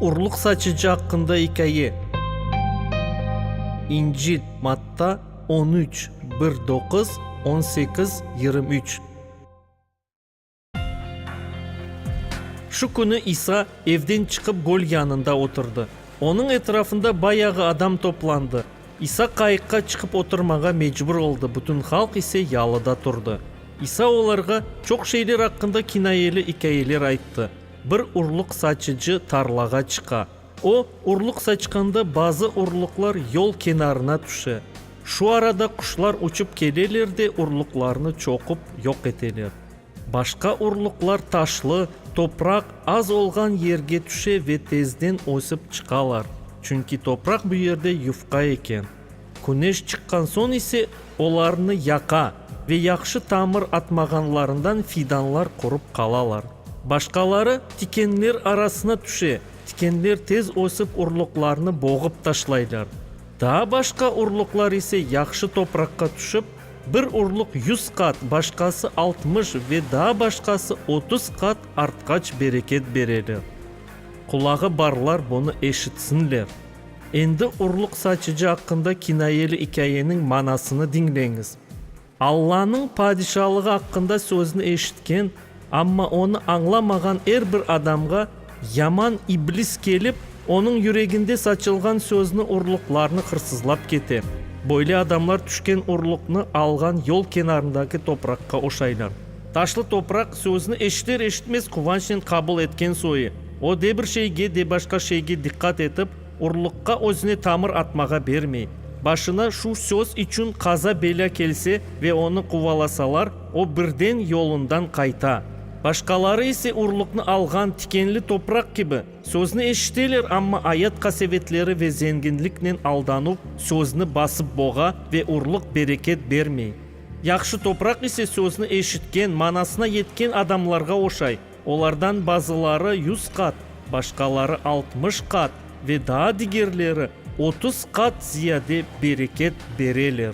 Urluq saçıcı aqqında ikâye. İncil, Matta, on üç, bir doquz, on sekiz, yirmi üç. Şu künü İsa evden çıqıp, göl yanında oturdı. Onıñ etrafında bayağı adam toplandı. İsa qayıqqa çıqıp oturmağa mecbur oldı, bütün halq ise yalıda turdı. İsa olarğa çoq şeyler aqqında kinayeli ikâyeler ayttı. Bir urluq saçıcı tarlağa çıqa. O, urluq saçqanda bazı urluqlar yol kenarına tüşe. Şu arada quşlar uçıp keleler de urluqlarnı çoqup, yoq eteler. Başqa urluqlar taşlı, topraq az olğan yerge tüşe ve tezden ösip çıqalar, çünki topraq bu yerde yufqa eken. Küneş çıqqan soñ ise olarnı yaqa ve yahşı tamır atmağanlarından fidanlar qurup qalalar. Başqaları tikenler arasına tüşe, tikenler tez ösip urluqlarnı boğıp taşlaylar. Daa başqa urluqlar ise yahşı topraqqa tüşip, Bir urluq yüz qat, başqası altmış ve daa başqası otuz qat artqaç bereket bereler. Qulağı barlar bunı eşitsinler. Endi urluq saçıcı aqqında kinayeli ikâyeniñ manasını diñleñiz. Allanıñ Padişalığı aqqında sözüni eşitken Amma onı añlamağan er bir adamğa yaman iblis kelip, onıñ yüreginde saçılğan sözni, urluqlarnı hırsızlap kete. Böyle adamlar tüşken urluqnı alğan yol kenarındaki topraqqa oşaylar. Taşlı topraq sözni eşiter-eşitmez quvançnen qabul etken soy, o de bir şeyge, de başqa şeyge diqqat etip, urluqqa özüne tamır atmağa bermey. Başına şu söz içün qaza-belâ kelse ve onı quvalasalar, O birden yolundan qayta. Başqaları ise urluqnı alğan tikenli topraq kibi, sözni eşiteler, amma ayat qasevetleri ve zenginliknen aldanuv sözni basıp boğa ve urluq bereket bermey. Yahşı topraq ise sözni eşitken, manasına yetken adamlarğa oşay, olardan bazıları yüz qat, başqaları altmış qat ve daa digerleri otuz qat ziyade bereket bereler.